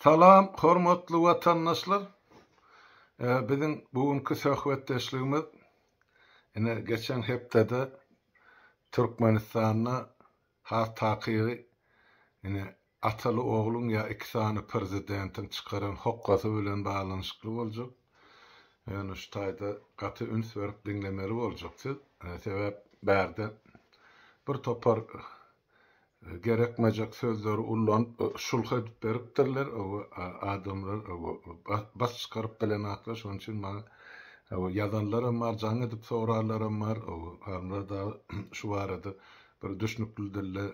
Salam hormatly watandaşlar. Biziň bu günki söhbetdeşligimiz ine geçen hepdede Türkmenistanda has takygy ine ataly ogluň ýa iki sany prezidentiň çykaran hokgasy bilen baglanyşykly boljak. Ýöne şu taýda gaty üns berip diňlemeli boljak siz. Sebäp bärde bir topar gerekmejek sözleri ullanyp şulh edip beripdirler owo adamlar owo bas çykaryp bilen atlar şonuň üçin maňa owo ýazanlaram bar jaň edip sorarlaram bar owo adamlar dagy şu barada bir düşnükli dilde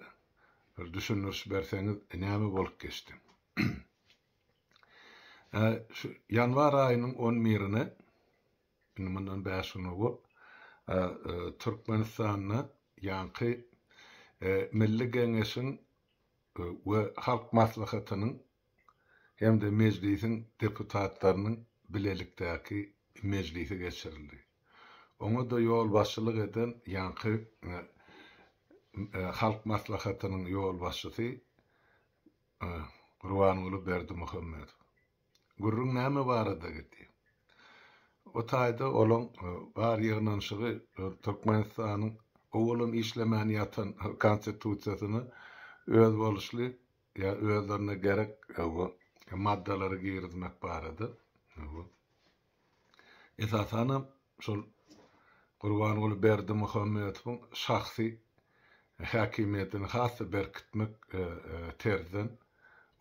bir düşündiriş berseňiz näme bolup geçdi şu ýanwar aýynyň on birine Indi mundan bäş gün owal Türkmenistanda ýaňky Milli Geňeşiň we Halk Maslahatynyň hem-de Mejlisiň deputatlarynyň bilelikdäki mejlisi geçirildi. Oňa-da ýolbaşçylyk eden ýaňky Halk Maslahatynyň ýolbaşçysy Gurbanguly Berdimuhamedow. Gürrüň näme barada gidýär? O taýda olaň bar ýygnanyşygy Türkmenistanyň owadan işlemän ýatan Konstitusiýasyna özboluşly ýa özlerine gerek maddalary girizmek barada. esasanam şol Gurbanguly Berdimuhamedowyň şahsy häkimiýetini has-da berkitmek terzden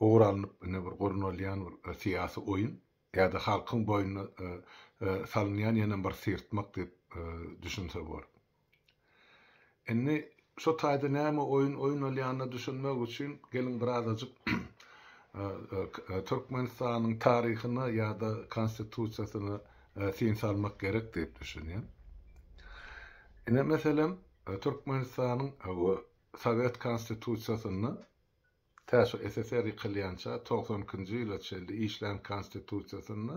ugur alnyp ine bir gurnalýan bir syýasy oýun ýa-da halkyň boýnuna salynýan ýene bir syrtmak diýip düşünse bor. Indi şo taýda näme oýun oýnalýanyna düşünmek üçin geliň birazajyk Türkmenistanyň taryhyna ýa-da Konstitusiýasyna syn salmak gerek diýip düşünýän. Ine meselem Türkmenistanyň Sowet Konstitusiýasynda Tä şu SSR ýykylýança togsan ikinji ýyla çenli işlän Konstitusiýasynda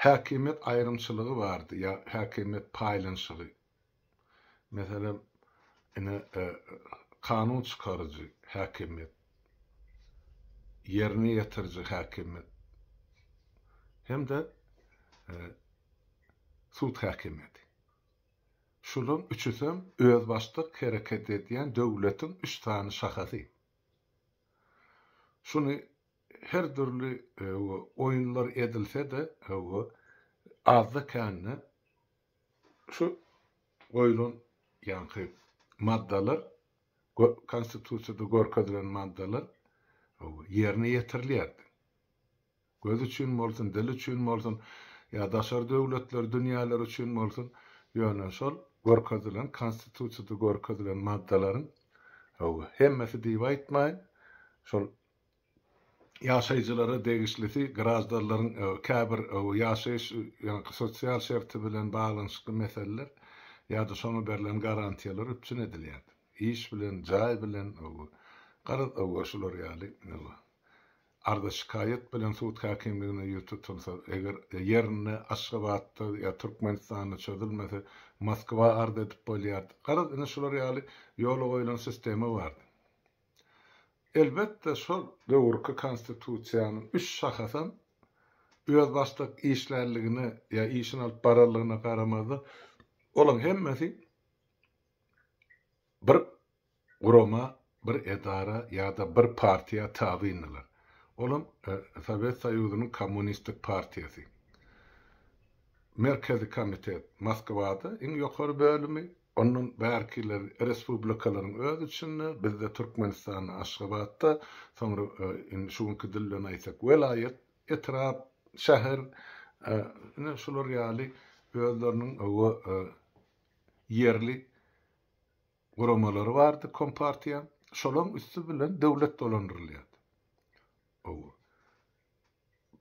häkimiýet aýrymçylygy bardy ýa häkimiýet paýlanyşygy. Meselem, ine, kanun çykaryjy häkimiýet, ýerine ýetiriji häkimiýet hem-de sud häkimiýeti. Şularyň üçüsem özbaşdak hereket edýän döwletiň üç sany şahasy. Şuny her dürli oýunlar edilse-de, azda-kände şu goýlan ýaňky maddalar, Konstitusiýada görkezilen maddalar ýerine ýetirilýärdi. Göz üçin bolsun, dil üçin bolsun, ýa daşary döwletler, dünýäler üçin bolsun, ýöne şol görkezilen, Konstitusiýada görkezilen maddalaryň, hawa, hemmesi diýip aýtmaýyn, şol ýaşaýjylara degişlisi, graždanlaryň käbir ýaşaýyş, ýaňky sosial şerti bilen baglanyşykly meseleler ýa-da şoňa berlen garantiýalar üpjün edilýärdi. Iş bilen, jaý bilen, garaz, şular ýaly, arza-şikaýat bilen sud häkimligine ýüz tutulsa, eger ýerinde Aşgabatda ýa Türkmenistanda çözülmese, Moskwa arz edip bolýardy. Garaz, indi şular ýaly ýola goýlan sistema bardy. Elbetde, şol. Döwürki Konstitusiýanyň üç şahasam özbaşdak işlärligine ýa işini alyp bararlygyna garamazdan, olaň hemmesi Bir gurama, bir edara ýa-da bir partiýa tabyndylar. Olam Sowet Soýuzynyň Kommunistik partiýasy. Merkezi komitet Moskwada, iň ýokary bölümi, ondan bärkiler respublikalaryň öz içinde, bizde Türkmenistanda Aşgabatda, soňra indi şu günki dil bilen aýtsak welaýat, etrap, şäher, ine şular ýaly özleriniň we ýerli guramalary bardy kompartiýa şolaň üsti bilen döwlet dolandyrylýardy owo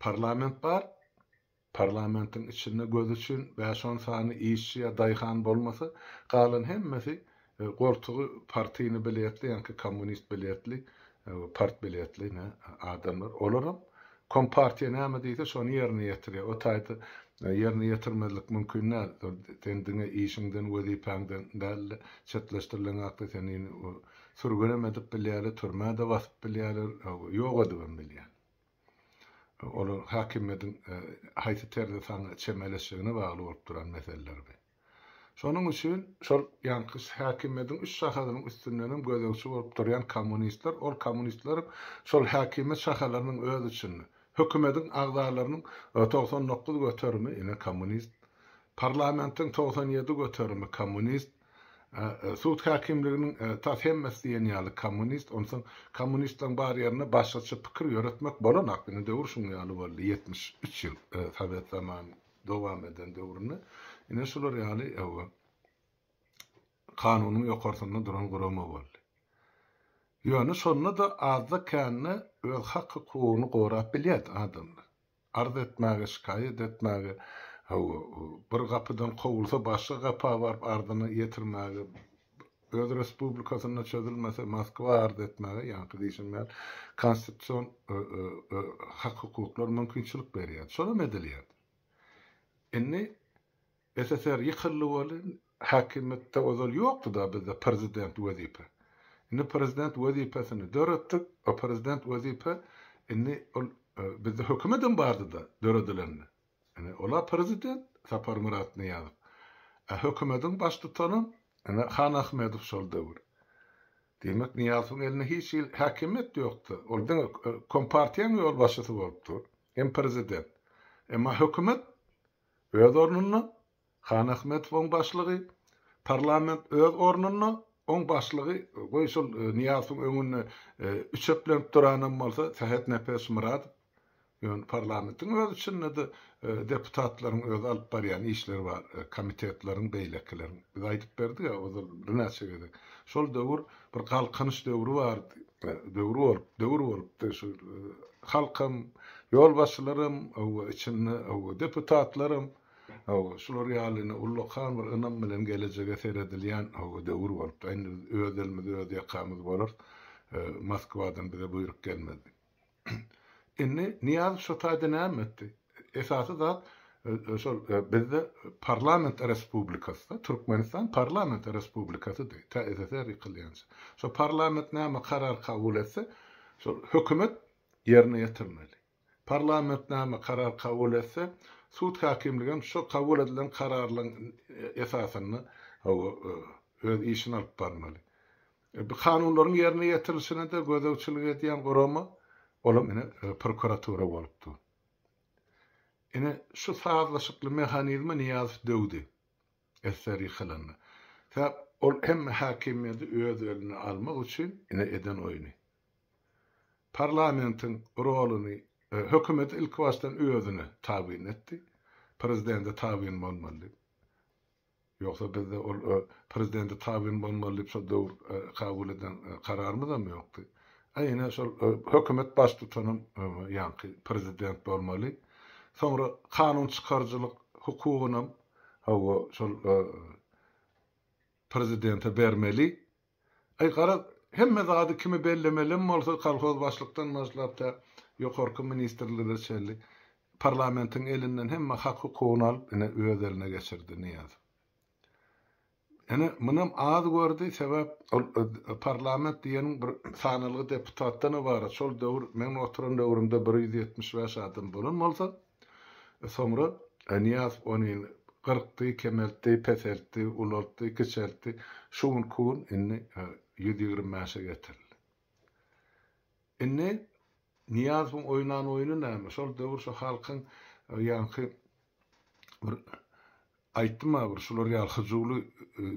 parlament bar parlamentiň içinde göz üçin bäş on sany işçi ýa daýhan bolmasa galan hemmesi e, goltugy partyny biletli ýa-ki kommunist biletli e, part biletli ne adamlar olaram Kompartiýa näme diýse şony ýerine ýetirýär. O taýda ýerine ýetirmezlik mümkin däl. Sen diňe işiňden, wezipäňden däl-de, çetleşdirileň hakda seni indi sürgünem edip bilýärler, türmä-de basyp bilýärler, ýok edibem bilýär. Olar häkimiýetiň haýsy terzde saňa çemeleşjegine bagly bolup duran meseleler bi. Şonuň üçin şol ýaňky häkimiýetiň üç şahasynyň üstündenem gözegçi bolup durýan kommunistler, ol kommunistleriň şol häkimiýet şahalarynyň öz içinde, hökümetiň agzalarynyň togsan dokuz göterimi ine kommunist, parlamentiň togsan ýedi göterimi kommunist, sud häkimliginiň tas hemmesi diýen ýaly kommunist, onsoň kommunistleriň bar ýerinde başgaça pikir ýöretmek bolanok, indi döwür şuň ýaly boldy, ýetmiş üç ýyl sowet zamany. dowam eden döwründe ine şular ýaly kanunyň ýokarsynda duran gurama boldy. Ýöne şonda-da azda-kände öz hak-hukugyny gorap bilýärdi adamlar. Arz etmäge, şikaýat etmäge, bir gapydan kowulsa, başga gapa baryp arzyny ýetirmäge, Öz respublikasynda çözülmese Moskwa arz etmäge ýaňky diýşim ýaly konstitusion hak-hukuklar mümkinçilik berýärdi. Şolam edilýärdi. Indi SSR ýykyldy welin häkimiýetde ozal ýokdy-da bizde prezident wezipe. Indi prezident wezipesini döretdik. O prezident wezipe indi ol bizde hökümetem bardy-da döredilende. Ine, ol-a prezident Saparmyrat Nyýazow. A hökümediň baştutanam, ine, Han Ahmedow şol döwür. Diýmek, Nyýazowyň elinde hiç hili häkimiýet ýokdy. Ol diňe kompartiýaň ýolbaşçysy bolup dur. Hem prezident. Emma hökümet öz ornunda, Hanahmedowyň başlygy, Parlament öz ornunda, oň başlygy, goý şol Nyýazowyň öňünde üçeplenip duranam bolsa Sähetnepes Myradow, ýöne parlamentiň öz içinde-de deputatlaryň özi alyp barýan işleri bar, komitetleriň, beýlekileriň. Biz aýdyp berdik-ä ozal birnäçe gezek. Şol döwür bir galkynyş döwri bardy, döwri bolup, döwür bolupdy, şu halkam, ýolbaşçylaram, hawa, içinde, hawa, deputatlaram. Hawa, şular ýaly indi ullakan bir ynam bilen gelejege seredilýän, hawa, döwür bolupdyr. Indi biz öz elimizi öz ýakamyz bolarys. Moskwadan bize buýruk gelmez. Indi Nyýazow şo taýda näme etdi? Esasy zat, şol bizde parlament respublikasy-da, Türkmenistan parlament respublikasydy, tä SSR ýykylýança. Şo parlament näme karar kabul etse, şol hökümet ýerine ýetirmeli. Parlament näme karar kabul etse, sud häkimligi hem şo kabul edilen kararlaryň esasynda öz işini alyp barmaly. Bu kanunlaryň ýerine ýetirilişine-de gözegçilik edýän gurama, ol hem ine prokuratura bolup dur. Ine, şu sazlaşykly mehanizme Nyýazow döwdi, SR ýykylanda. Sebäp ol hemme häkimiýeti öz eline almak üçin ine eden oýny. Parlamentiň roluny hökümet ilkibaşdan özüne tabyn etdi. Prezidende tabyn bolmaly diýip. Ýogsa bizde ol prezidende tabyn bolmaly diýip şo döwür kabul eden kararymyzam ýokdy. A ine şol hökümet baştutanam ýaňky prezident bolmaly. Soňra kanun çykaryjylyk hukugynam hawa şol prezidente bermeli. Aý, garaz, hemme zady kimi bellemelem bolsa, kolhozbaşlykdan başlap tä ýokarky ministrlere çenli parlamentiň elinden hemme hak-hukugyny alyp, ine, öz eline geçirdi Nyýazow. Ine, munam az gördi, sebäp ol parlament diýeniň bir sanalgy deputatdan ybarat. Şol döwür, meň oturan döwrümde bir ýüz ýetmiş bäş adam bolan bolsa, Soňra Nyýaz ony gyrkdy, kemeltdi, peseltdi, ulaltdy, kiçeltdi. Şu günki gün indi ýüz ýigrimi bäşe getirildi. Indi Nyýazowyň oýnan oýny näme? Şol döwür şu halkyň ýaňky bir Aýtdym-a bir şular ýaly hyjuwly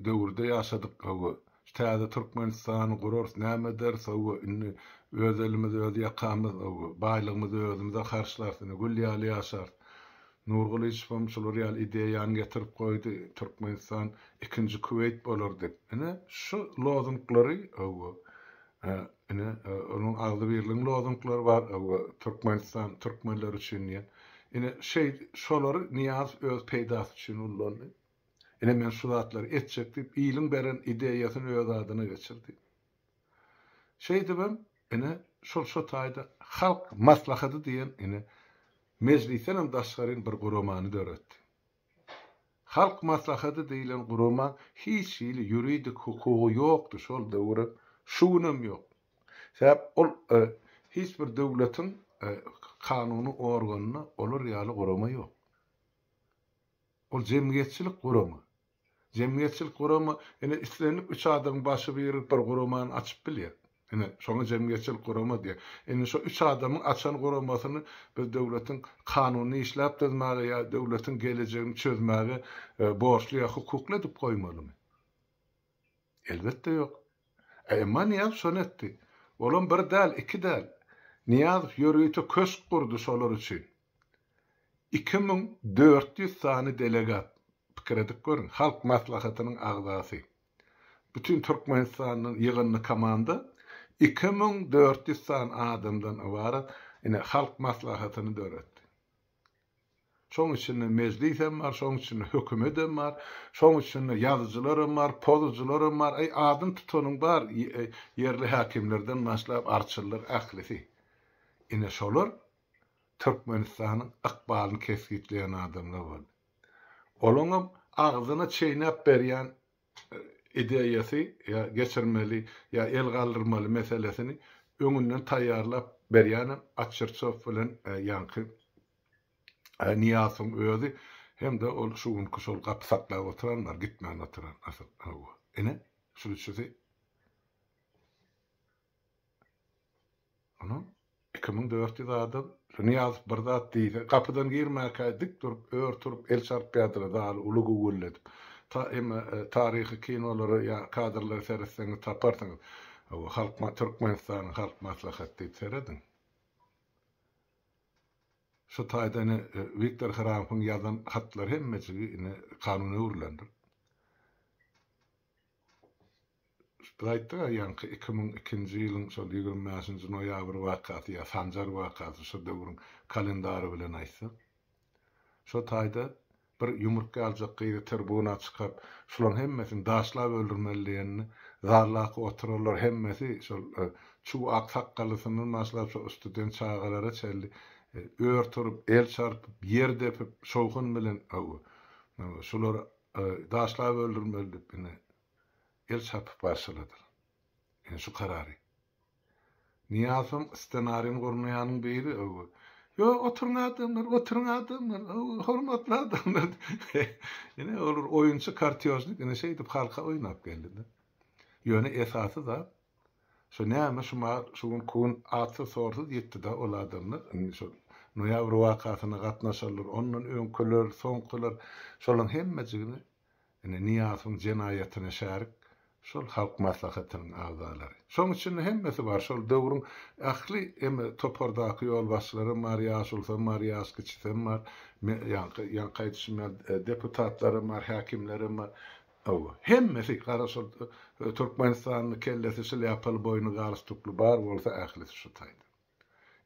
döwürde ýaşadyk hawa. Täze Türkmenistany gurarys näme ederis hawa indi öz elimiz öz ýakamyz hawa. Baýlygymyzy özümize harçlarys indi gül ýaly ýaşarys. Nur Gylyçowam şular ýaly ideýany getirip goýdy Türkmenistan ikinji Kuweýt bolar dip. Ine şu lozunglary hawa Hä, ine, onuň agzybirligiň lozunglary bar, Türkmenistan türkmenler üçin diýen. Ine, şeý, şolary Nyýazow öz peýdasy üçin ullandy. Ine, men şu zatlary etjek diýip, iliň beren ideýasyny öz adyna geçirdi. Şeýdibem, ine, şol şu taýda Halk Maslahaty diýen, ine, Mejlisdenem daşgaryn bir guramany döretdi. Halk Maslahaty diýilen gurama hiç hili ýuridik hukugy ýokdy şol döwürem, şu günem ýok. Sebäp ol hiç bir döwletiň kanuny organynda olar ýaly gurama ýok. Ol jemgyýetçilik gurama. Jemgyýetçilik guramy ine islendik üç adamyň başy biri bir guramany açyp bilýär. Ine, şoňa jemgyýetçilik gurama diýer. Indi şo üç adamyň açan guramasyny biz döwletiň kanunyny işläp düzmäge ýa döwletiň gelejegini çözmäge borçly ýa hukukly edip goýmalymy? Elbetde ýok. E, emma Nyýazow şony etdi. Olam bir däl, iki däl. Nyýazow ýörite köşk gurdy şolar üçin. Iki müň dört ýüz sany delegat, pikir edip görüň, Halk Maslahatynyň agzasy. Bütin Türkmenistandan ýygyndy komanda, iki müň dört ýüz sany adamdan ybarat, ine, Halk Maslahatyny döretdi. Şoň içinde Mejlis hem bar, şoň içinde hökümet hem bar, şoň içinde ýazyjylar hem bar, pozuçylar hem bar, eý, adyny tutanyň bar, ýerli häkimlerden başlap, arçyllar, ählisi. Ine, şolar Türkmenistanyň ykbalyny kesgitleýän adamlar boldy. Olaňam agzyna çeýnäp berýän ideýasy ýa geçirmeli ýa el galdyrmaly meselesini öňünden taýýarlap berýänem Atçyrçow bilen ýaňky Nyýazowyň özi hem-de ol şu günki şol gapy saklap oturanlar, gitmän oturan asyl, hawa. Ine, şu üçüsi. Ony iki müň dört ýüz adam, şu Nyýazow bir zat diýse, gapydan girmäkä dik durup, ör turup el çarpýardylar, zaly uly güwwüldedip. Ta, emma, taryhy kinolara ýa kadrlara seretseňiz taparsyňyz. Hawa, Halk ma, Türkmenistanyň Halk Maslahaty diýip serediň. Şu taýda ine, Wiktor Hramowyň ýazan hatlary hemmejigi ine kanuna öwrülendir. Biz aýtdyk a ýaňky iki müň ikinji ýylyň şol ýigrimi bäşinji noýabr wakasy ýa sanjar wakasy şo döwrüň kalendary bilen aýtsak. Şo taýda bir ýumruk ýaljak gyzy tirbuna çykaryp şularyň hemmesini daşlap öldürmeli diýende zallaki oturanlar hemmesi şol çuw ak sakgallysyndan başlap şo ustuden çagalara çenli ör turup el çarpyp ýer depip şowhun bilen hawa şulary daşlap öldürmeli diýip ine el çarpyp barşyladyr. Ine şu karary. Nyýazowyň ssenarini gurnaýanyň biri, öwü, Ýo, oturyň adamlar, oturyň adamlar, öwü, hormatly adamlar diýip. Ine olar oýunçy kartýožnik ine şeýdip halka oýnap geldi-de. Ýöne esasy zat, şo näme şu ma şu gün kun atsyz-sorsuz ýetdi-de ol adamlar, indi şo noýabr wakasyna gatnaşanlar, ondan öňküler, soňkular, şolaryň hemmejigini Indi Nyýazowyň jenaýatyna şärik şol Halk Maslahatynyň agzalary. Şoň içinde hemmesi bar, şol döwrüň ähli eme topardaky ýolbaşçylaram bar, ýaşulusam bar, ýaş kiçisem bar, me ýaňky ýaňky aýdyşym ýaly deputatlaram bar, häkimlerem bar. Hawa, hemmesi, gara şol türkmenistanly kellesi şlýapaly boýny galstukly bar bolsa ählisi şu taýdan.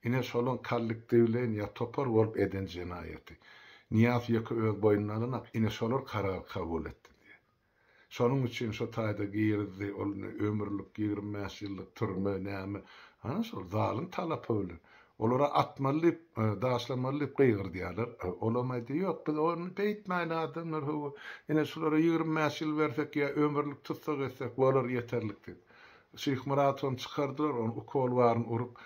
Ine şolaň kollektiwleýin ýa topar bolup eden jenaýaty. Nyýaz ýeke öz boýnuna alanak, ine şolar karary kabul etdi diýýär. Şonuň üçin şo taýda girizdi, ol ne ömürlik, ýigrimi bäş ýyllyk türme, näme, ha şol zalym talapy bilen. Olara atmaly diýip, daşlamaly diýip gygyrdýarlar. Olam aýdýar, ýok, biz ony beýtmäýli adamlar, hawa, ine şulara ýigrimi bäş ýyl bersek ýa ömürlik tussag etsek bolar ýeterlik diýip. Şyhmyradowyam çykardylar, ony ukol baryn urup,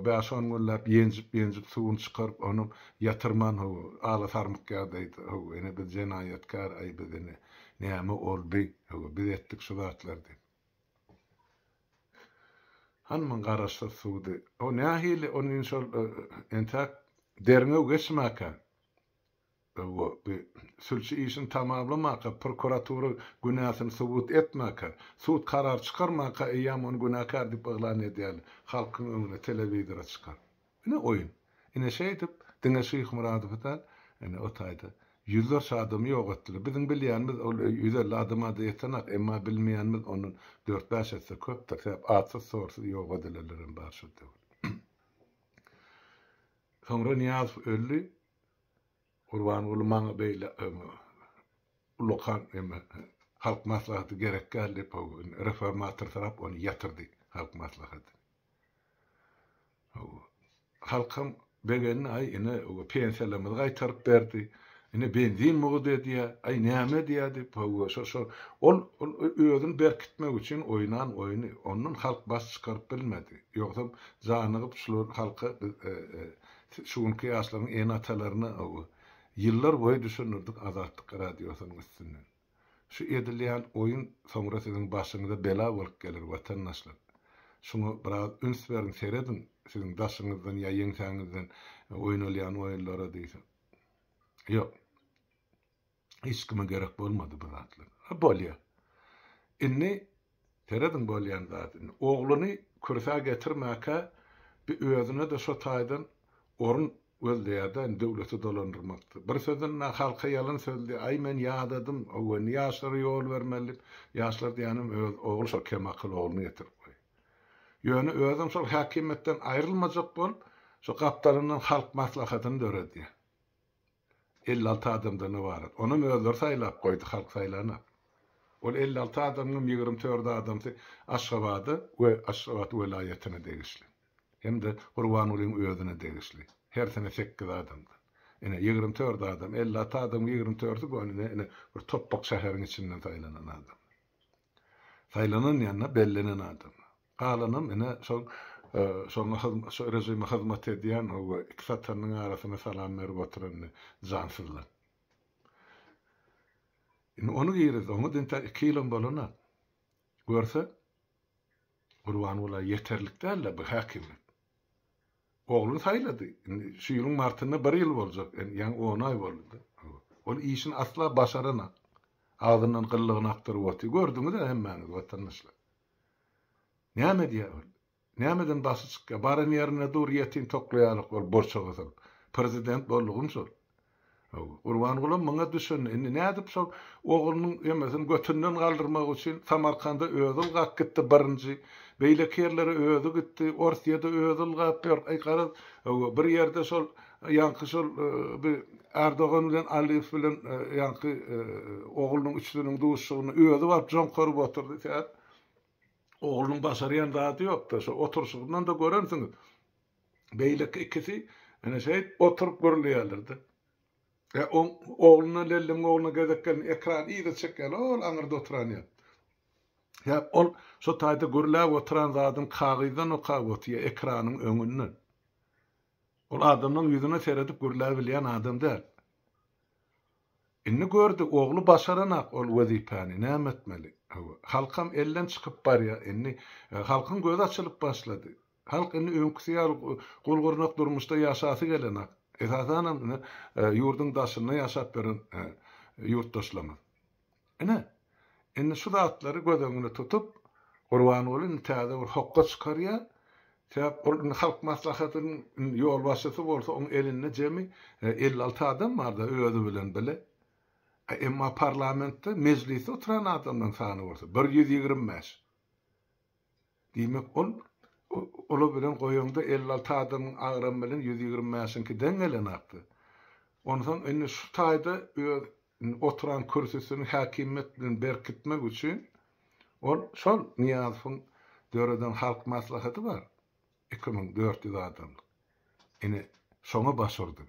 bäş-on günläp ýenjip-ýenjip suwuny çykaryp, ony ýatyrman, ho, ala sarmyk ýagdaýda, ho, ine biz jenaýatkär, aý biz ine, näme boldy, ho, biz etdik şu zatlary diýip. Hanman garaşsyz suwdy. O nähili, ony indi şol entäk derňew geçmäkä. we sülçi işini tamamlamaka, prokuratura günäsini subut etmäka, sud karar çykarmaka eýýäm ony günäkär diýip yglan edýärler, halkyň öňüne telewizora çykaryp. Ine oýun. Ine şeýdip, diňe Şyhmyradowy däl, ine o taýda ýüzlerçe adamy ýok etdiler. Biziň bilýänimiz ol ýüz elli adama-da ýetenak, emma bilmeýänimiz ondan dört-bäş esse köpdür, sebäp atsyz-sorsuz ýok edilenlerem bar şol döwür. Soňra Nyýazow öldi. Gurbanguly maňa beýle ulakan neme halk maslahaty gerek däl diýip howwa indi reformatorsyrap ony ýatyrdy halk maslahaty. Howwa halkam begendi aý ine pensiýalarymyzy gaýtaryp berdi ine benzin mugt edýä aý näme edýä diýip howwa şo şo ol ol özüni berkitmek üçin oýnan oýny ondan halk baş çykaryp bilmedi ýogsam janygyp şular halka biz Şu günki ýaşlaryň ene-atalaryna ow. Ýyllar boýy düşündirdik Azatlyk Radiosynyň üstünden. Şu edilýän oýun soňra siziň başyňyza bela bolup geler watandaşlar. Şuňa biraz üns beriň serediň siziň daşyňyzdan ýa ýeňsäňizden oýnalýan oýunlara diýseň. Ýok. Hiç kime gerek bolmady bu zatlar. A bolýa. Indi serediň bolýan zadyny. Ogluny kürsä getirmäkä bi özüne-de şo taýdan orun gözleýär-de indi döwleti dolandyrmakda. Bir sözünde halka ýalan sözli, aý men ýadadym, owndy ýaşlara ýol bermeli diýip, ýaşlar diýenim öz ogly şo kemakyl ogluny getirip goýýar. Ýöne özem şol häkimiýetden aýrylmajak bolup, şo gapdalyndan halk maslahatyny döredýär. elli alty adamdan ybarat. Onam özleri saýlap goýdy, halk saýlanok. Ol elli alty adamyňam ýigrimi tördi adamsy Aşgabada we Aşgabat welaýatyna degişli. Hem-de Gurbangulyň özüne degişli. Hersine sekiz adamdan. Ine, ýigrimi tördi adam. Elli alty adamyň ýigrimi tördi bu ine, ine bir topbak şäheriň içinden saýlanan adamlar. Saýlanan ýa-da bellenen adamlar. Galanam ine şol şoňa şo režime hyzmat edýän o iki satanynyň arasyna salam berip oturan indi jansyzlar. Indi ony girizdi. Oňa diňe tä iki ýylam bolana görse Gurbanguly ýeterlik däl-le bu häkimiýet. Ogluny saýlady. Indi şu ýylyň martynda bir ýyl boljak. Ýaňy on aý boldy. Ol işini asla başaranok. Agzyndan gyllygyny akdyryp otyr. Gördüňiz-ä hemmäňiz watandaşlar. Näme edýär ol? Nämeden başy çykýar? Baran ýerinde dur, ýetim toklaýarlyk ol borçaga sal. Prezident boldugym şol. Hawa. Gurbangulam muňa düşündi. Indi nädip şol oglunyň emesini götünden galdyrmak üçin Samarkanda özi ylgap gitdi birinji. Beýleki ýerlere özi gitdi. Orsyýada özi ylgap ýör. Aý garaz, hawa, bir ýerde şol Ýaňky şol bi Erdogan bilen Aliýew bilen ýaňky oglunyň üçüsiniň duşuşygyny özi baryp joň körup otyrdy Sät oglunyň başarýan zady ýokda şo oturyşygyndan-da görensiňiz beýleki ikisi ene şeýt oturyp gürleýärlerde e oň ogluna Lellemiň ogluna gezek geldi ekran yza çekýärler ol aňyrda oturan ýa ýa ol şo taýda gürläp oturan zadyny kagyzdan okap otyr ekranyň öňünden. Ol adamlaň ýüzüne seredip gürläbilýän adam däl. Indi gördi, ogly başaranak ol wezipäni, näme etmeli? Hawa, halkam elden çykyp barýa, indi halkyň gözi açylyp başlady. Halk indi öňküsi ýaly gul-gyrnak durmuşda ýaşasy gelenak. Esasanam indi ýurduň daşynda ýaşap ýören ýurtdaşlarymyz. Ine, indi şu zatlary göz öňünde tutup, Gurbanguly indi täze bir hokga çykarýar. Sebäp ol indi Halk Maslahatynyň ýolbaşçysy bolsa, oň elinde jemi elli alty adam bar-da, özi bilen bile. Emma parlamentde, mejlisde oturan adamlaryň sany bolsa, bir ýüz ýigrimi bäş. Diýmek, ol olar bilen goýaňda elli-alty adamyň agramy bilen ýüz ýigrimi bäşiňki deň gelenokdy. Onsoň indi şu taýda öz oturan kürsüsini häkimiýet bilen berkitmek üçin ol şol Nyýazowyň döreden Halk Maslahaty bar, iki müň dört ýüz adamlyk, ine, şoňa baş urdy.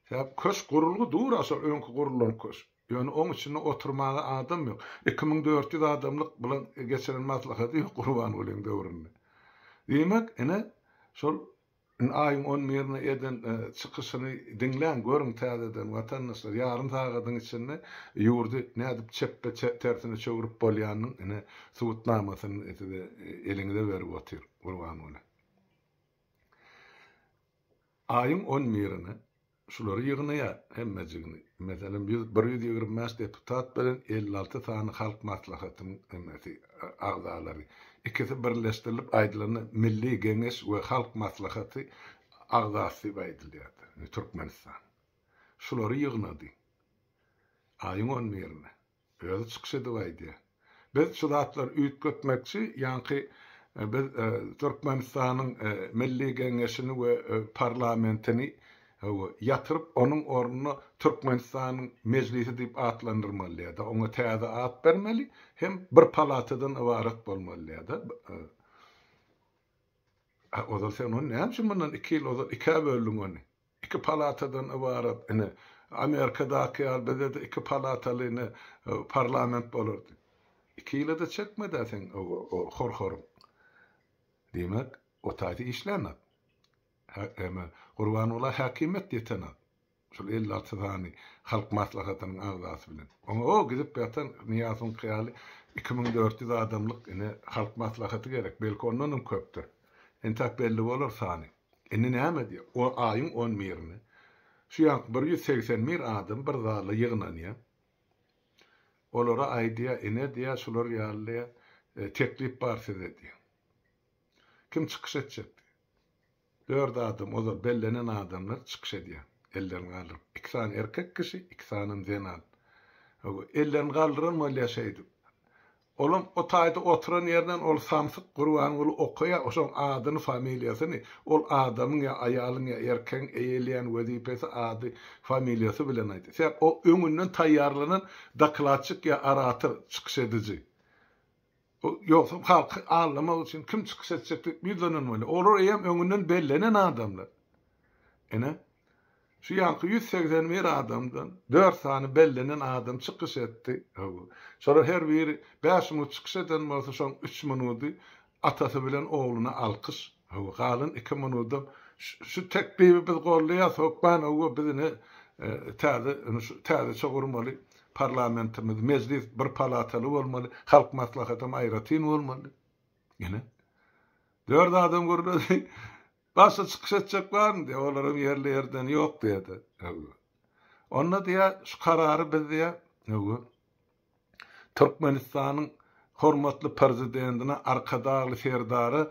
Sebäp köşk gurulgy dur a şol öňki gurulan köşk. Ýöne oň içinde oturmaga adam ýok. Iki müň dört ýüz adamlyk bilen geçiren maslahady ýok Gurbangulyň döwründe. Diýmek, ine, şol indi aýyň on birinde eden çykyşyny diňläň, görüň täzeden watandaşlar, ýarym sagadyň içinde ýurdy nädip çepbe tersine çöwrüp bolýanynyň ine subutnamasyny size eliňize berip otyr Gurbanguly. Aýyň on birine şulary ýygnaýar, hemmejigini. Meselem, ýüz, bir ýüz ýigrimi bäş deputat bilen elli alty sany Halk Maslahatynyň nemesi, agzalary. Ikisi birleşdirilip aýdylanda Milli Geňeş we Halk Maslahaty agzasy diýip aýdylýar, Türkmenistan. Şulary ýygnady aýyň on birine. Özi çykyş edip aýdýa. Biz şu zatlary üýtgetmekçi, ýaňky biz Türkmenistanyň Milli Geňeşini we parlamentini ýatyryp onuň ornuna Türkmenistanyň Mejlisi diýip atlandyrmalyada, oňa täze at bermeli hem bir palatadan ybarat bolmalyada. Ozal sen ony näme üçin mundan iki ýyl ozal ikä böldiň ony? Iki palatadan ybarat. Ine, Amerikadaky ýaly bizde-de iki palataly ine parlament bolardy. Iki ýyla-da çekmedi-ä seň o horhoryň. Diýmek, otaýda işlänok. Eme, Gurbangula häkimiýet ýetenok. Şol elli alty sany halk maslahatynyň agzasy bilen. Oňa-o gidip ýatan Nyýazyňky ýaly iki müň dört ýüz adamlyk ine halk maslahaty gerek. Belki ondanam köpdür. Entäk belli bolar sany. Indi näme edýär? On aýyň on birinde şu ýanky bir ýüz segsen bir adam bir zala ýygnanýar. Olara aýdýar, Ine, diýýär, şular ýaly diýýär, teklip bar size diýýär. Kim çykyş etjek diýýär. Dört adam, ozal bellenen adamlar çykyş edýär, ellerini galdyryp. Iki sany erkek kişi, iki sanam zenan. Ellerini galdyran bolýar şeýdip. Olam o taýda oturan ýerinden ol samsyk Gurbanguly okaýa şoň adyny familiýasyny ol adamyň ýa aýalyň ýa erkegiň eýeleýän wezipesi ady familiýasy bilen aýt sebäp o öňünden taýýarlanan dokladçik ýa orator çykyş ediji o ýogsam halky aldamak üçin kim çykyş etjekdigi ýüzlenilmeli olar eýýäm öňünden bellenen adamlar ine Şu ýanky ýüz segsen bir adamdan dört sany bellenen adam çykyş etdi. Hawa. Şolar her biri bäş minut çykyş eden bolsa, şoň üç minudy atasy bilen ogluna alkyş. Hawa, galan iki minudam Şu teklibi biz goldaýas, hökman, hawa, biz ine täze, ine şu täzeçe gurmaly parlamentimiz, mejlis bir palataly bolmaly, halk maslahatam aýratyn bolmaly. Ine. Dört adam gürledi. Başga çykyş etjek barmy diýýär, olaram ýerli ýerden ýok diýýär-de. Hawa. Onda diýýär, şu karary biz diýýär, hawa, Türkmenistanyň hormatly Prezidentine, Arkadagly Serdara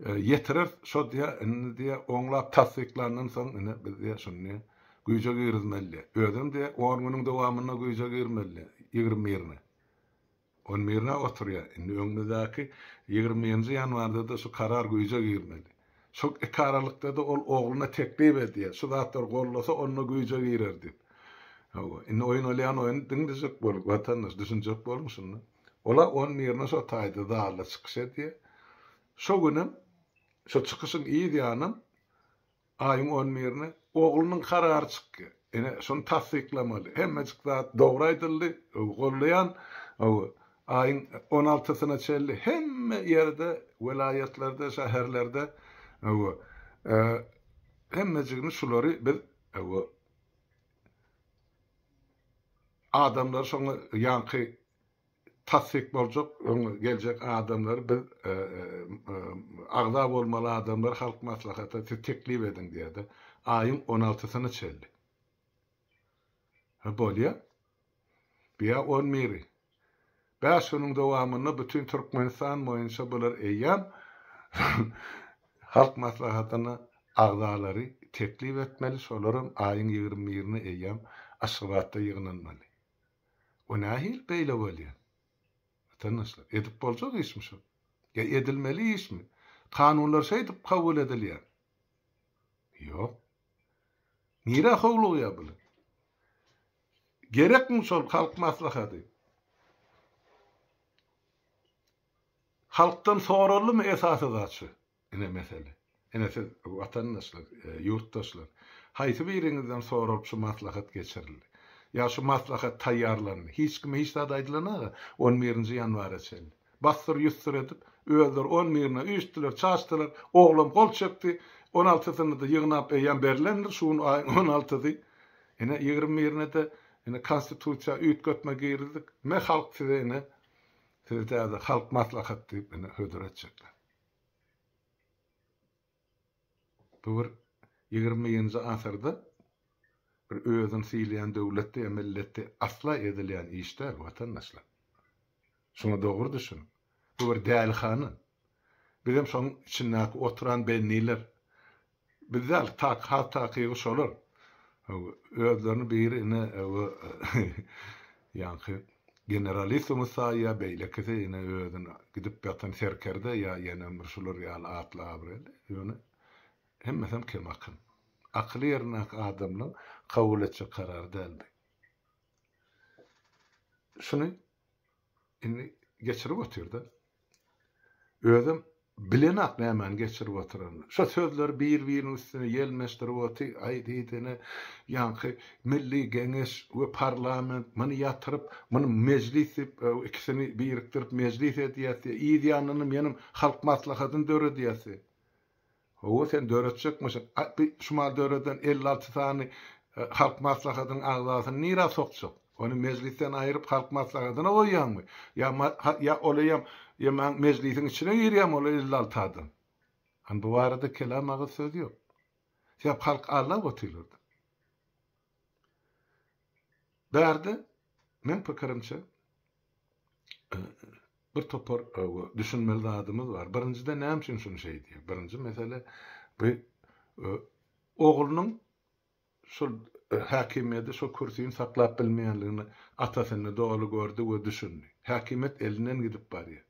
ýetireris, şo diýýär, indi diýýär, oňlap tassyklandan soň ine biz diýýär, şuny güýje girizmeli diýýär. Özem diýýär, on günüň dowamynda güýje girmeli diýýär, ýigrimi birine. On birine oturýar. Indi öňümizdäki ýigrimi nji ýanwarda-da şu karar güýje girmeli. Şol iki aralykda-da ol ogluna teklip edýär, şu zatlary goldasa, onda güýje girer diýip. Hawa, indi oýun bolýan oýny diňlejek boluň, watandaş, düşünjek boluň şunda. Olar on birine şo taýda zalda çykyş edýär. Şo günem, şo çykyşyň yz ýanam Aýyň on birine oglunyň karary çykýar. Ene şony tassyklamaly. Hemmejik zat dogry aýdyldy. Goldaýan. Aýyň on altysyna çenli hemme ýerde, welaýatlarda, şäherlerde hemmejigini şulary biz adamlary şoňa ýaňky tassyk boljak öň geljek adamlary biz agza bolmaly adamlary halk maslahata siz teklip ediň diýerdi aýyň on altysyna çenli ha bolýa biýa on biri bäş günüň dowamynda bütin türkmenistan boýunça bular eýýäm halk maslahatyna agzalary teklip etmeli şolaram aýyň ýigrimi birine eýýäm aşgabatda ýygnanmaly. O nähili beýle bolýa? Watandaşlar, edip boljak işmi şu? Ýa edilmeli işmi? Kanunlar şeýdip kabul edilýä? Ýok. Nirä howlugýa bular? Gerekmi şol halk maslahady? Halkdan soraldymy esasy zat şu? Ine mesele. Ine siz, watandaşlar, ýurtdaşlar, haýsy biriňizden soralyp şu maslahat geçirildi? Ýa şu maslahat taýýarlandy? Hiç kime hiç zat aýdylanaga, on birinji ýanwara çenli. Bassyr-ýussyr edip, özleri on birine üýştdiler, çaşdylar, oglam gol çekdi, on altysyny-da ýygnap eýýäm berlendir, şu gün aýyň on altysy. Ine, ýigrimi birine-de ine Konstitusiýa üýtgetme girizdik. Me halk size ine, size täze Halk maslahaty diýip ine hödür etjekler. Bu bir ýigrimi birinji asyrda bir özüni sylaýan döwletde ýa milletde asla edilýän iş däl, watandaşlar. Şuňa dogry düşüniň. Bu bir dälihana. Bizem şoň içindäki oturan benniler, Biz däl tak has takygy şolar. Özlerini biri ine bu ýaňky generalissumy saýýar beýlekisi ine özüni gidip ýatan serkerde ýa ýene bir şular ýaly atly abraýly ýöne hemmesem kem akyn. Akyly ýerindäki adamlaň kabul etjek karary däl bi. Şuny Indi geçirip otyr-da. Özem bilenok nämäni geçirip otyranyny. Şo sözleri bir-biriniň üstüne ýelmeşdirip otyr, aý diýsene, ýaňky Milli Geňeş we parlament muny ýatyryp, muny mejlis diýip, ikisini birikdirip mejlis edýäs diýýär, yz ýanynda menem Halk Maslahatyny döredýäs diýýär. Hawa sen döretjekmişin. A bi şumal döreden elli alty sany Halk Maslahatynyň agzasyny nira sokjak? Ony Mejlisden aýryp Halk Maslahatyna goýýaňmy? Ýa ma ha ýa olaýam ýaman Mejlisiň içine girýämi ol elli alty adam? An bu barada kelam agyz söz ýok. Sebäp halk allap otyrlardy. Bu ýerde meň pikirimçe bir topar düşünmeli zadymyz bar. Birinjiden näme üçin şuny şeý diýýär? Birinji mesele bu oglunyň şol häkimiýeti, şol kürsini saklap bilmeýänligini atasynda doly gördi we düşündi. Häkimiýet elinden gidip barýar.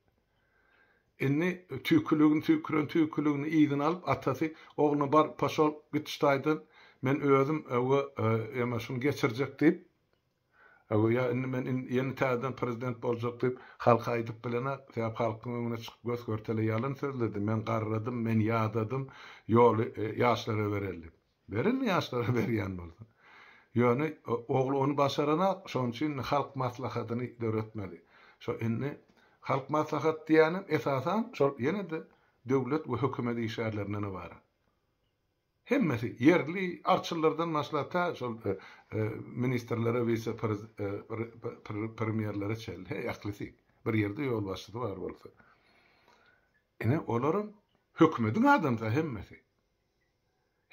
Indi tüýküligini tüýküren tüýküligini yzyna alyp, atasy ogluna bar, poşol, git şu taýdan, men özüm, ewe, ýa-ma şuny geçirjek diýip, ewe, ýa indi men in, ýene täzeden prezident boljak diýip, halka aýdyp bilenok, sebäp halkyň öňüne çykyp gös-görtele ýalyn sözledi, men garradym, men ýadadym, ýoly ýaşlara bereli. Berildi ýaşlara berýän bolsa. Ýöne ogly ony başaranok, şonuň üçin indi halk maslahatyny döretmeli. Şo indi halk maslahaty diýýänem esasan şol ýene-de döwlet we hökümet işgärlerinden ybarat. Hemmesi ýerli arçyllardan başlap tä şol ministrlere, wise premýerlere çenli he ählisi. Bir ýerde ýolbaşçysy bar bolsa. Ine olaram hökümetiň adamsy hemmesi.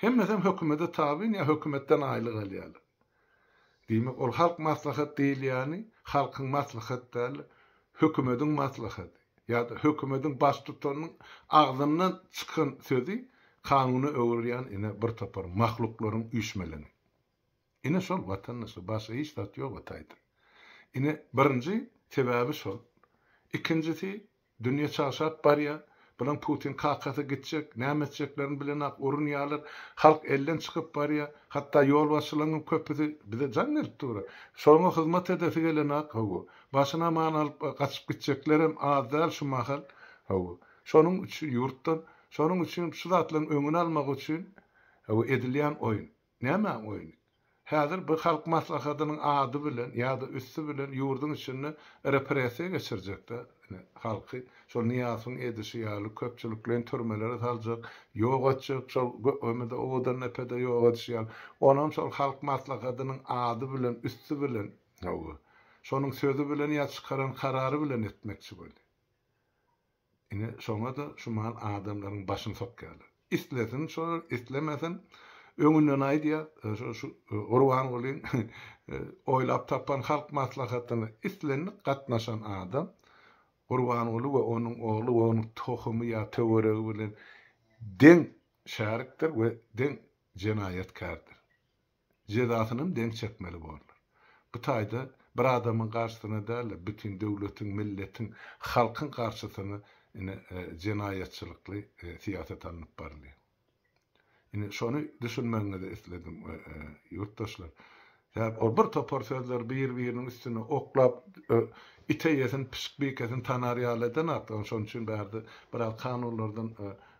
Hemmesem hökümede tabyn ýa hökümetden aýlyk alýarlar. Diýmek ol halk maslahat diýilýäni halkyň maslahat däl hökümediň maslahady ýa-da hökümediň baştutanynyň agzyndan çykan sözi kanuna öwrülýän ine bir topar mahluklaryň üýşmeleňi. Ine şol watandaşlar başga hiç zat ýok ataýdan. Ine birinji sebäbi şol. Ikinjisi Dünýe çagşap barýa. Bilen Putin kakasy gitjek, näme etjeklerini bilenak urunýalar. Halk elden çykyp barýa. Hatda ýolbaşçylaňňam köpüsi bize jaň gelip dura. Şolaňa hyzmat edesi gelenak hawa. Başyny aman alyp gaçyp gitjeklerem az däl şu mahal. Hawa. Şonuň üçin ýurtdan. Şonuň üçin şu zatlaň öňüni almak üçin hawa edilýän oýun. Näme oýny? Häzir bir halk maslahatynyň ady bilen ýa-da üsti bilen ýurduň içinde repressiýa geçirjekdä ine, halky, şol Nyýazowyň edişi ýaly köpçülikleýin türmelere saljak, ýok etjek, şol Gökmemede, Owodandepede ýok edişi ýaly, onam şol halk maslahatynyň ady bilen, üsti bilen, hawa, şonuň sözi bilen ýa çykaran karary bilen etmekçi bolýar. Ine, şoňa-da şumal adamlaryň başyny sokýarlar. Islesin şolar, islemesin, öňünden aýdýar, şu Gurbangulyň oýlap tapan halk maslahatyna islendik gatnaşan adam Gurbanguly we onuň ogly we onuň tohumy ýa töweregi bilen deň şärikdir we deň jenaýatkärdir. jezasynam deň çekmeli borlar. Bu taýda bir adamyň garşysyna däl-de, bütin döwletiň, milletiň, halkyň garşysyna ine, jenaýatçylykly syýasat alnyp barylýar. Ine, şony düşünmegiňizi isledim, ýurtdaşlar. Sebäbi ol bir topar sözler bir-biriniň üstüne oklap, ite ýesin, pişik bikesin tanar ýaly eden zatlar. Şonuň üçin bärde biraz kanunlardan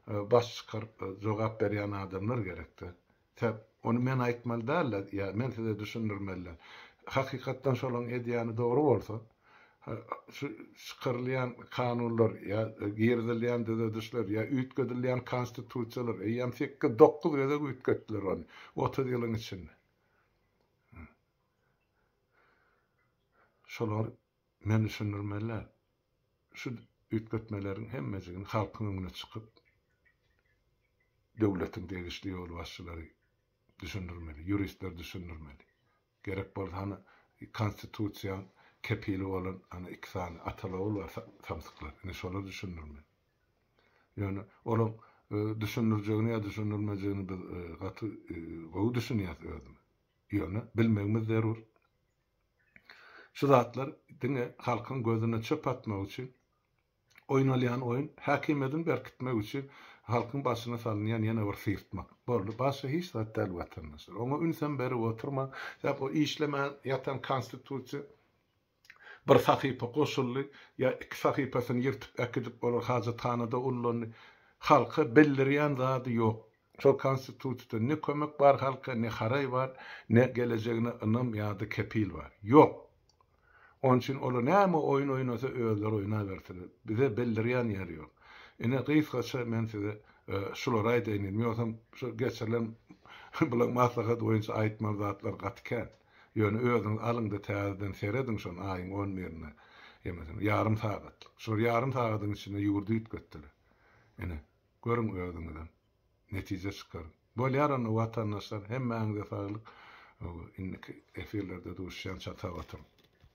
baş çykaryp jogap berýän adamlar gerek-de. Täp, ony men aýtmaly däl-le, ýa men size düşündirmeli. Hakykatdan şolaň edýäni dogry bolsa, şu çykarylýan kanunlar ýa girizilýän düzedişler ýa üýtgedilýän konstitusiýalar, eýýäm sekiz, dokuz gezek üýtgetdiler ony, otuz ýylyň içinde. Şolar Men düşündirmelän, şu üýtgetmeleriň hemmejigini halkyň öňüne çykyp, döwletiň degişli ýolbaşçylary düşündirmeli, ýuristler düşündirmeli. Gerek bolsa, hany, Konstitusiýaň kepili bolan, hany, iki sany ata-lowul bar, samsyklar, indi şolar düşündirmeli. Ýöne olaň düşündirjegini ýa düşündirmejegini biz gaty gowy düşünýäs özümiz. Ýöne bilmegimiz zerur. Şu zatlar diňe halkyň gözüne çöp atmak üçin oýnalýan oýun, häkimiýedini berkitmek üçin halkyň başyna salynýan ýene bir syrtmak. Boldy, başga hiç zat däl watandaşlar. Oňa ünsem berip oturmaň. Sebäp o işlemän ýatan konstitusiýa bir sahypa goşuldy ýa iki sahypasyny ýyrtyp äkidip olar hajathanada ullandy. Halka bildirýän zady ýok. Şol konstitusiýada ne kömek bar halka, ne haraý bar, ne gelejegine ynam ýa-da kepil bar. Ýok! Onuň üçin olar näme oýun oýnasa özleri oýnabersinler. Bize bildirýän ýeri ýok. Ine gysgaça men size şulary aýdaýyn diýdim. Ýogsam şu geçirilen bulaň maslahat boýunça aýtmaly zatlar gaty kän. Ýöne özüňiz alyňda täzeden serediň şony aýyň on birinde. Ýaňy ýarym sagatlyk. Şol ýarym sagadyň içinde ýurdy üýtgetdiler. Ine. Görüň özüňizem. Netije çykaryň. Bolýar onda watandaşlar hemmäňize saglyk indiki efirlerde duşýan çatap oturyň.